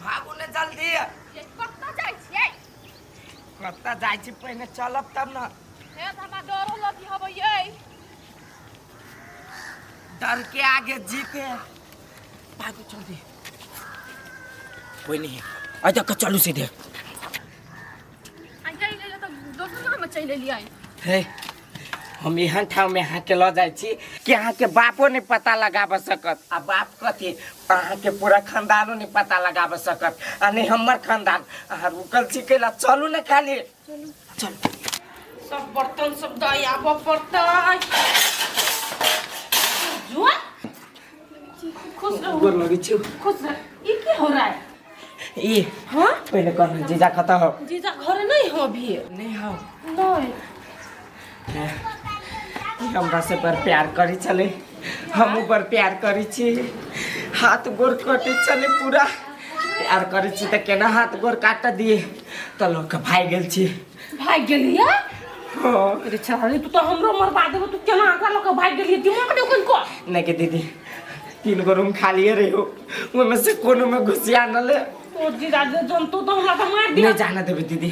भागू ने जल्दी ये कत्ता जाइ छियै कतऽ जाइ छी पहिने चलब तब ने हे तऽ हमरा डरो लगी हबै ये डर के आगे जीत है भागू जल्दी कोई नहीं है आ जा चलू सीधे आ जाई ले ले तो दोसर जगह में चल एलियै हे हम एहन ठाव में अहाँ के लऽ जाइ छी कि अहाँ के बापो नहि पता लगाबऽ सकत आ बाप कथी अहाँ के पूरा खानदानो नहि पता लगाबऽ सकत आ नहि हमर खानदान अहाँ रुकल छी कैला चलू ने खाली सब बर्तन सब दया बर्तन जो खुश रहू गोर लगै छी खुश रह ई की हो रहा है ई हाँ पहिले कहलहुँ जीजा कतऽ हो जीजा घरे नहीं हो अभी नहि हो नहीं ई हमरा से बड़ प्यार करै छलै हमहूँ बड़ प्यार करै छी हाथ गोर कटै छलै पूरा प्यार करै छी तऽ केना हाथ गोर काटऽ दिए तऽ लऽ कऽ भागि गेल छी भागि गेलियै अरे चाहे तू तो हमरो मरबा देबो तू केना आगा लऽ कऽ भागि गेलियै दिमाग ने ओकन को नहीं के दीदी तीन गो रूम खाली रहे हो वो में से कोनो में घुसिया न ले ओ जीजा जे जनतो तो हमरा तऽ मार दिया नहीं जाना देवे दीदी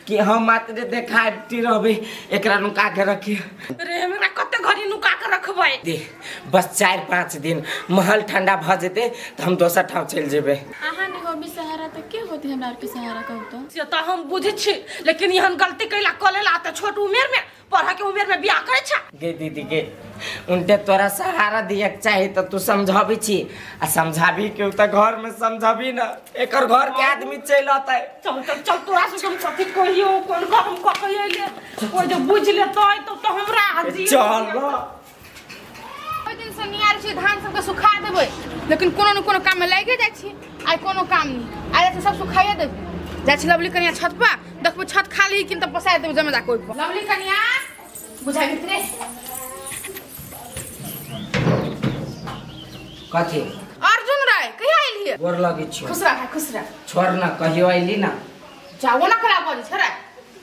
कि हम मात्र देखा रहबे एकरा नुका के रखी रे हमरा कते घड़ी नुका के रखबै दे बस चारि पाँच दिन महल ठंडा भऽ जेतै तऽ हम दोसर ठाव चलि जेबै अहाँ नहि होबी सहारा तऽ के होती हमरा आरके सहारा कहू तो से तऽ हम बुझै छी लेकिन एहन गलती कैला कऽ लेला तऽ छोट उमेर में पढ़ा के उमेर में बियाह करै छै गे दीदी गे उनटे तोरा सहारा दिए के चाही तऽ तू समझाबै छी आ समझाबी के तऽ घर में समझाबी ना एकर घर के आदमी चलि अतै चल चल चल तोरा से हम कथी कहियो कोन घर हम कहिए ले कोई जो बुझ लेतै तब तो हमरा आजी चल ना ओहि दिन से नियार छी धान सबके सुखा देबै लेकिन कोनो ने कोनो काम में लागे जाइ छी आइ कोनो काम नहीं आइ जाइ सब सुखाइए देबै जाइ छी लवली कनिया छत पर देखबै छत खाली कि तऽ पसाइ देबै जमे जाके ओहिपर लवली कनिया बुझाइ भितरे कथी अर्जुन राय कहिया एलियै गोर लगै छियो खुश रह खुश रह छोड़ ना कहियो अइली ना जाओ ना कला बड़ी छोड़ा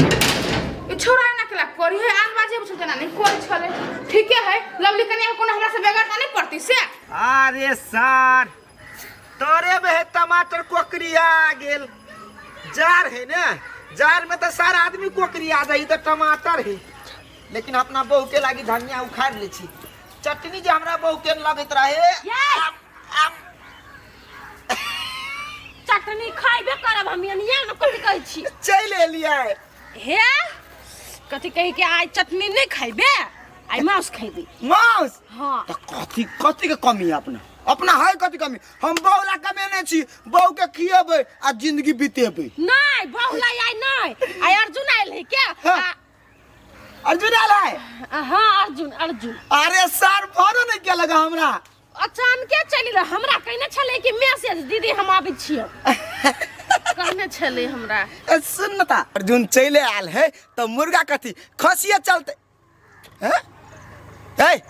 ई छोड़ा ना कला करी है आन बाजे बुझल तना नहीं कोई छले ठीके है लवली कन्या कोनो हमरा से बेगर त नहीं पड़ती से अरे सार तोरे में है टमाटर कोकरी आ गेल जार है ना जार में तो सारा आदमी कोकरी आ जाई तो टमाटर है लेकिन अपना बहू के लागी धनिया उखाड़ ले छी चटनी जे हमरा बहू के लगत रहे ये! आब- आब चटनी खैबे करब हम एनिया ने कथी कहै छी चलि एलियै हे कथी कहै के आइ चटनी नहि खैबे आइ माउस खैबे माउस हाँ त कथी कथी के कमी है अपना अपना है कथी कमी हम बहू ला कमेने छी बहू के खियेबै आ जिंदगी बितेबै नहि बहुला आइ नहि आइ अर्जुन आयल है के हाँ। आ- अर्जुन आयल है आ, हाँ अर्जुन अर्जुन अरे सर फोनो नहीं किया लगा हमरा अचानके चलि गेल हमरा कहने छलै कि मैसेज दीदी हम आबै छियौ कहने छलै हमरा ए, सुन न ता अर्जुन चले आयल है तो मुर्गा कथी खसिए चलते हैं? ए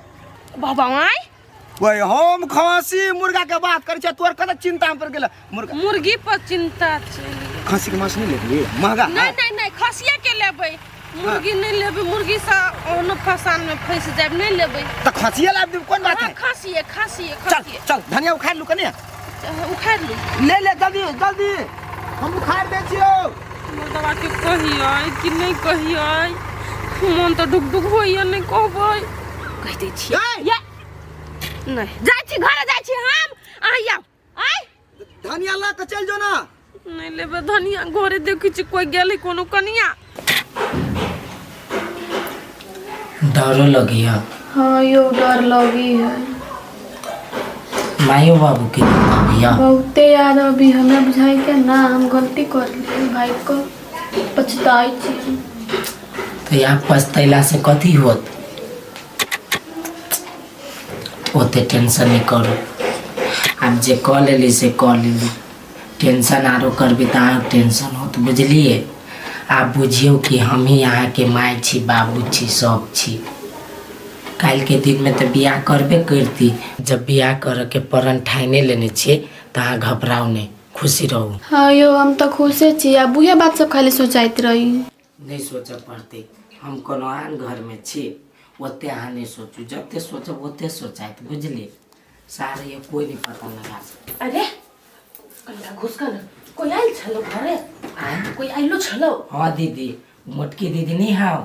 बाबा आय ओए हम खसी मुर्गा के बात करै छियै तोर कत चिंता पर गेल मुर्गा मुर्गी पर चिंता छै खस्सी के मांस नहीं लेबी महंगा है नहीं नहीं नहीं खसिया के लेबै मुर्गी नहीं लेबै मुर्गी से ओहनो फसान में फंस जाब नहीं लेबै तो खस्सिया लाब देब कोन बात हाँ, है खसिए खसिए चल खसिए चल धनिया उखाड़ लू कने उखाड़ लू ले ले जल्दी जल्दी हम उखाड़ दे छियो मुर्दवा के कहिए कि नहीं कहिए मन तो डुक डुक होइए नहीं कहबै कह दै छियै ए, या नहीं जाइ छी घरे जाइ छी हम अहाँ आउ आय धनिया ला के चल जो ना नहीं लेबे धनिया घरे देखी छी कोई गेल है कोनो कनिया डरो लगी है हाँ यो डर लगी है मायो बाबू के भैया बहुते याद अभी हमें बुझाई के ना हम गलती कर लिए भाई को पछताई छी तो यहाँ पछतैला से कथी होत ओते टेंशन नहि करू आब जे कऽ लेली से कऽ लेली टेंशन आरो करबी तऽ अहाँके टेंशन होत बुझलियै आब बुझियौ कि हमही अहाँके माय छी बाबू छी सब छी काल्हिके दिनमे तऽ बियाह करबे करती जब बियाह करयके प्रण ठाने लेने छियै तऽ अहाँ घबराउ नहि खुशी रहू हँ यौ हम तऽ खुशे छी आ बुहे बात सब खाली सोचाइत रही नहि सोचऽ पड़तै हम कोनो आन घरमे छी ओते अहाँ नहि सोचू जते सोचब ओते सोचाइत बुझलियै सारे कोइ नहि पता लगा सकैए अरे कनिटा घुस कऽ ने कोइ आयल छलौ घरे आँय? कोइ आयलो छलौ हँ दीदी मोटकी दीदी नहि हौ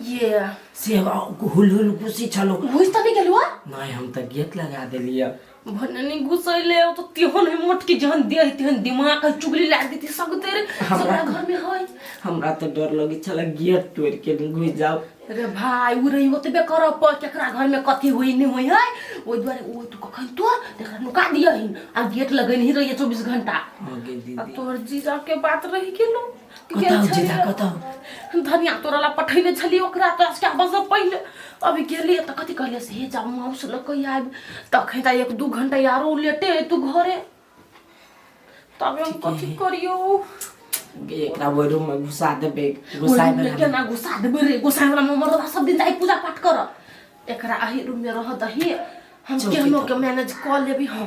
ये से हुल हुल खुशी छलौ बुझि तऽ नहि गेलहुँ हँ? नहि हम तऽ गेट लगा देलियै भने नि गुसैले त त्यो नै मोटकी जहन दे त्यो दिमाग चुगली लाग देती सब तेरे हमरा घर में होय हमरा तो डर लगे छला गेट तोड़ के घुस जाओ रे भाई उ रही होते बे कर प केकरा घर में कथी होई नहीं होई है ओइ द्वारे ओ तू कखन तो देखा नुका दिया हिन आ गेट लगन ही रही 24 घंटा अब तोर जीजा के बात रही गेलो कतौ जेदा कतौ धनिया तोरा ला पठैले छली ओकरा तो आज आबस से पहिले अभी गेलिए त कथि कहले से हे जाऊ माउस ल कहि आइब तखन त एक दू घंटा यारो लेटे है तू घरे तबे हम कथि करियो एकरा ओइ रूम में घुसा देबे घुसाए में लेके ना घुसा देबे रे घुसाए वाला ममरदा सब दिन जाई पूजा पाठ कर एकरा आही रूम में रह दही हम चौकी केहनो पर। के मैनेज क लेबी हां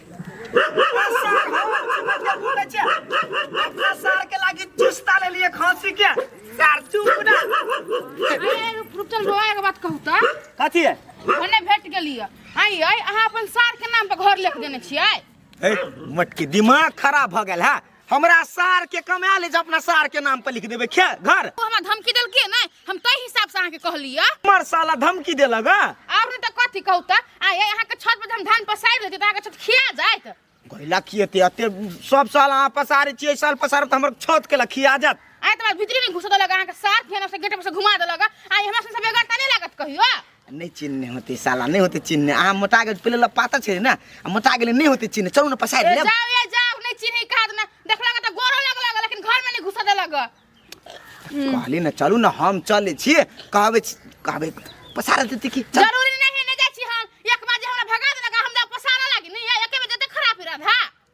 कथी है ओने भेट गेलिए आई आई अहाँ अपन सार के नाम पर घर लेके देने छियै ए मटकी दिमाग खराब भऽ गेल है हमरा सार के कमा ले जे अपना सार के नाम पर लिख देबे खे घर ओ हमरा धमकी देलकै नै हम तै हिसाब से अहाँ के कहलियै हमर साला धमकी देलक हँ। और नै त कथि कहू त आ ये अहाँ के छत पर जे हम धान पसारि लेती त अहाँ के छत खिया जाइत गैला की एते एते सब साल अहाँ पसारे छियै साल पसारे तऽ हमर छत के लखिया जात आइ त भीतरी में घुसा देलक अहाँ के सार फेन से गेट पर से घुमा देलक आइ हमरा से बेगर त नै लागत कहियो नहीं चिन्ह होते साला नहीं होते चिन्ह अहाँ मोटा गेल पहिले लग पातर छे ना आ मोटा गेल नहीं होते चिन्ह चलू ना पसार ए, लेब जाओ ये जाओ नहीं चीनी खा देना देखला का तो गोरो लग लग लेकिन घर में नहीं घुसा दे लग कहली ना चलू ना हम चले छी कहबे छी- कहबे पसार देते की चल जरूरी नहीं है नहीं जाई छी हम एक बार जे हमरा भगा देना का हम जा पसारा लागी नहीं एक में जते खराब रहा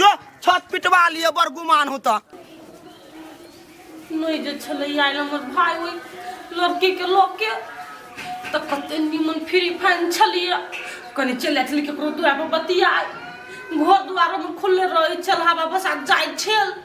जो छत पिटवा लिए बड़ गुमान हो तो नहीं जे छले आयल हमर भाई ओई लड़की के लोग के तो कते निमन फ्री फैन छलिए कनी चल आयल के ककरो दुआर पर बतिया घर दुआर में खुलले रहे चल हवा बसा जाय छल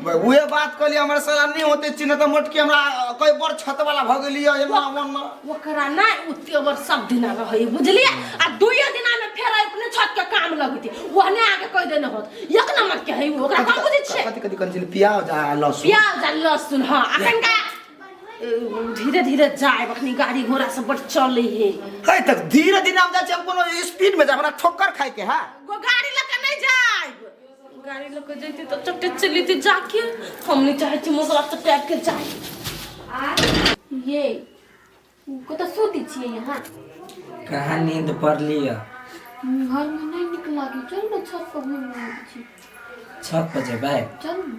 उहे बात कहली हमरा साला नहीं होते चिन्ह त मोटकी हमरा कई बार छत वाला भ गेली है एना मन में ओकरा ना उते बर सब दिन रही बुझलिए आ दुइये दिन में फेर अपने छत के काम लगती ओहने आके कह देने होत एक नंबर के है ओकरा हम बुझे छे कथि कथि कंसिल प्याज आ लहसुन प्याज आ लहसुन हां अखन का धीरे धीरे जाए अखनी गाड़ी घोड़ा सब बड़ चले है है तक धीरे धीरे हम जाए हम कोनो स्पीड में जाए हमरा ठोकर खाए के है गो गाड़ी लग गाड़ी लऽ कऽ जैते तऽ चट्टे चलि जैते जाके हम नहि चाहै छी मोसरा चट्टे के जाय ये कतऽ सुति छियै यहाँ कहाँ नींद पड़ली है घर में नहीं निकला कि चल ना छत पर घूम रहे छी छत पर जेबै चल ना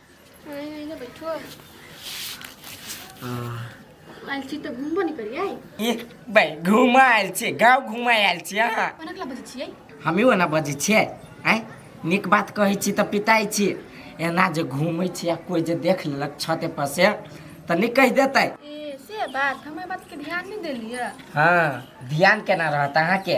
आयल छी तऽ घूमबो नहि करियै ए भाइ घुमा आयल छियै गाँव घुमा आयल छियै अहाँ कोना कला बजै छियै हमी ओना बजै छियै आँय नीक बात कहै छी तऽ पिताइ छी एना जे घूमै छी आ कोइ जे देख लेलक छते पर से तऽ नीक कहि देतै ए से बात हम एहि बातके ध्यान नहि देलियै हाँ ध्यान केना रहत अहाँके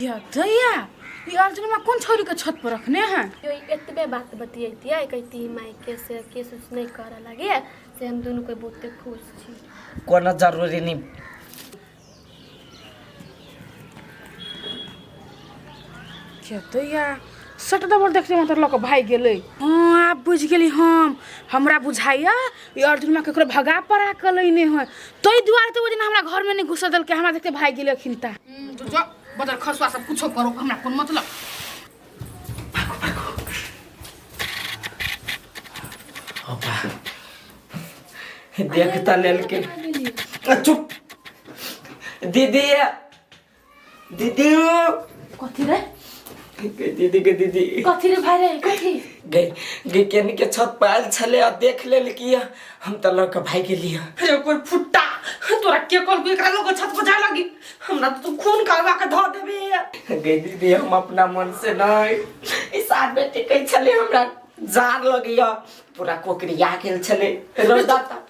दैया ई अर्जुनमा कोन छौरीके छत पर रखने हैं यो ई एतबे बात बतियैतियै कहती मायके से के सोच नहि करऽ लागे से हम दुनू कोइ बहुते खुश छी कोनो जरूरी नहीं के दैया सट डबल देखले मात्र लऽ कऽ भागि गेलै हँ आब बुझि गेली हम हमरा बुझाइया ई अर्जुनमा ककरो भगा पड़ा कऽ लैने है ताहि दुआरे तऽ ओहि दिन हमरा घरमे नहि घुसऽ देलकै हमरा देखते भागि गेलै अखिन ता बजार खर्चवा सब कुछो करो हमरा कोन मतलब देखता लेल के चुप दीदी दीदी कथी रे दीदी के दीदी कथी रे भाई रे कथी गई गई केनी के छत पर आयल छले आ देख ले कि हम त लड़का भाई के लिए अरे कोई फुट्टा तोरा के कल को एकरा लोग छत पर जाए लगी हमरा तो तू खून करवा के धो देबे गई दीदी हम अपना मन से नहीं ई साथ में टिकै छले हमरा जान लगिया पूरा कोकरिया गेल छले रौदा तप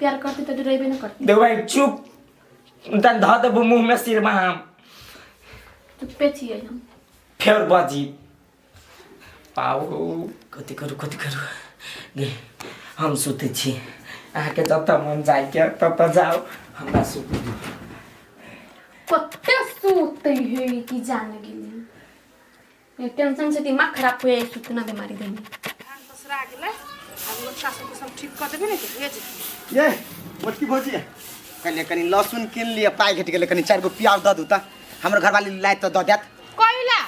प्यार करते तो डरेबे न करते देख भाई चुप तन धऽ देबो मुँह में सिरमा हम तो पे छियै हम फेर बाजी पाऊ कथी करू कथी करू दे हम सुते छी अहाँके जब तक मन जाय के तब तक जाओ हमरा सुते दू कते सूते है कि जान गेली टेंशन से दिमाग खराब हो जाए सूचना बीमारी देने दूसरा आ गेलै आब हमर सासु के सब ठीक कऽ देबै ने तऽ भेज देबै। ये मोटकी भौजी कहलिए कनी लहसुन कीन लिए पाइ घटि गेलै कनी चारि गो प्याज दऽ दू तऽ हमर घरवाली लाइ तऽ दऽ देत कइला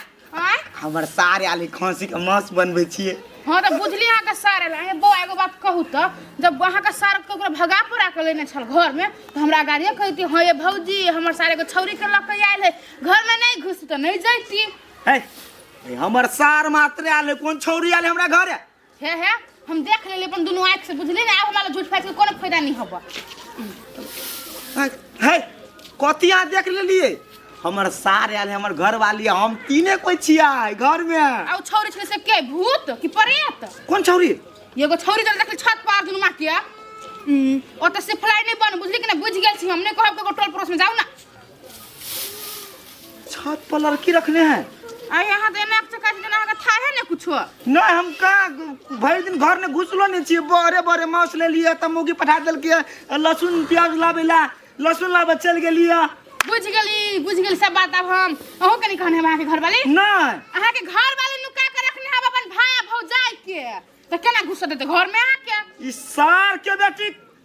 आँय हमर सार आयल है खस्सी के मांस बनबै छियै हँ तऽ बुझली अहाँके सार एला हे बौआ एगो बात कहू तऽ जब अहाँके सार ककरो भगा पड़ा के लेने छल घरमे तऽ हमरा गाड़िए कहती हँ ये भौजी हमर सार एगो छौरी के लऽ के आयल है घर में नहीं घुस तो नहीं जाती है ए, हमर सार मात्र आयल है, कोन छौरी आयल है हमरा घरे हे हे हम देख लेले अपन दोनों आँख से बुझली ना आब हमारा झूठ फाइट के कोनो फायदा नहीं होबा है, है कथी अहाँ देख लेलिए हमर सार आयल है, हमर घर वाली है, हम तीने कोई छिया है घर में आ छौरी छले से के भूत कि प्रेत कोन छौरी एगो छौरी जब देखली छत पर दुनू माटिया ओतऽ से फलाई नहीं बन बुझली कि ना बुझ गेल छी हम नहीं कहब ककरो टोल पड़ोस में जाऊ ना छत पर लड़की रखने हैं आ यहाँ तऽ एना चक्का छै जेना अहाँके थाहे ने कुछो नहीं हम कहाँ भरि दिन घर में घुसलो नहीं छियै बड़े बड़े मांस ले लिए तब मौगी पठा देलकै लहसुन प्याज लाबे ला लहसुन लाबे चल गेलिए बुझ गेली बुझ गेली सब बात आब हम अहूँ कनी कहने हम अहाँके घरवाली नहीं अहाँके घरवाली नुका के रखने हम अपन भाय भौजाई के तऽ केना घुसऽ देतै घरमे अहाँके ई सार के बेटी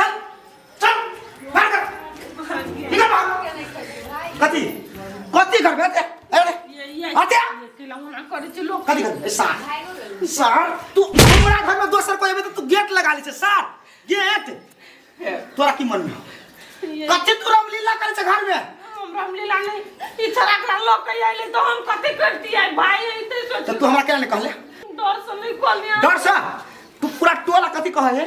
चल चल बाहर कर निकल बाहर कथी कथी करबे ते अरे अरे कथी करबे सार सार तू हमरा घर में दोसर कोई एबे त तू गेट लगा ले छै सार गेट तोरा की मन में कथी तू रामलीला करे छै घर में रामलीला नहीं ई छोरा के लोग कहि आइले तो हम कथी करती है भाई एते त सोच तू हमरा केना ने कहले डर से नहीं कोलिया डर से तू पूरा टोला कथी कहे है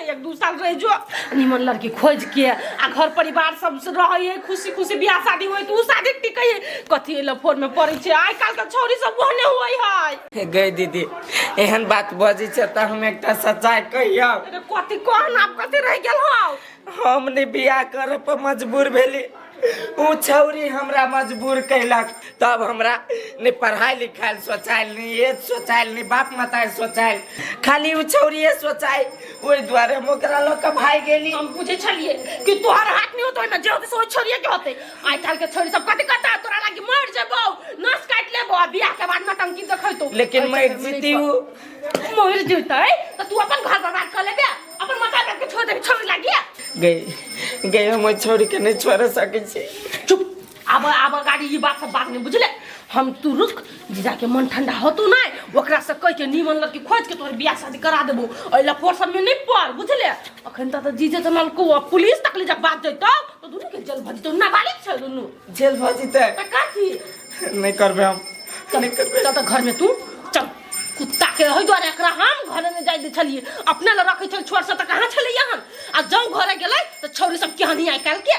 एक दू साल रह जो निमन लड़की खोज के आ घर परिवार सब से रहे है खुशी खुशी बियाह शादी होई तो उ शादी टिकै है कथी एला फोन में पड़े छै आइ काल के छौरी सब ओहने होई है गई दीदी एहन बात बजी छ त हम एकटा सच्चाई कहियो अरे कथी कहन आप कथी रह गेल हौ हम ने बियाह करे पर मजबूर भेली उ छौरी हमरा मजबूर कैलक तब हमरा ने पढ़ाई लिखाई सोचाइल ने ये सोचाइल ने बाप माता सोचाइल खाली उ छौरिए सोचाइ ओहि द्वारे हम ओकरा लऽ कऽ भागि गेली हम बुझे छलिए कि तोहर हाथ नहीं होतो ना जो के सोच छोड़िए के होते आइ काल के छोड़ी सब कथि करता तोरा लागी मर जेबो नस काट लेबो आ बियाह के बाद नटंकी देखैतो लेकिन मर जीती उ मर जीतै त तू अपन घर बर्बाद कर लेबे अपन माथा पे छोड़ दे छोड़ लग गया गई गई हम छोड़ के नहीं छोड़ सके छी चुप अब अब गाड़ी ये बात सब बात नहीं बुझले हम तू रुक जीजा के मन ठंडा हो तू ना ओकरा से कह के नीमन लड़की खोज के तोर बियाह शादी करा देबो ओइ लफोर सब में नहीं पड़ बुझले अखन त जीजे जनल को पुलिस तक ले जब बात जइतो तो दुनु के जेल भज तो नाबालिग छ दुनु जेल भज त का थी नहीं करबे हम नहीं करबे चल त घर में तू चल कुत्ताके ओहि दुआरे एकरा हम घरे नहि जाए दै छलियै अपने लए रखै छल छोट सब तऽ कहाँ छलैया हन आ जौ घरे गेलै तऽ छौरी सब केहन आइ काल्हिके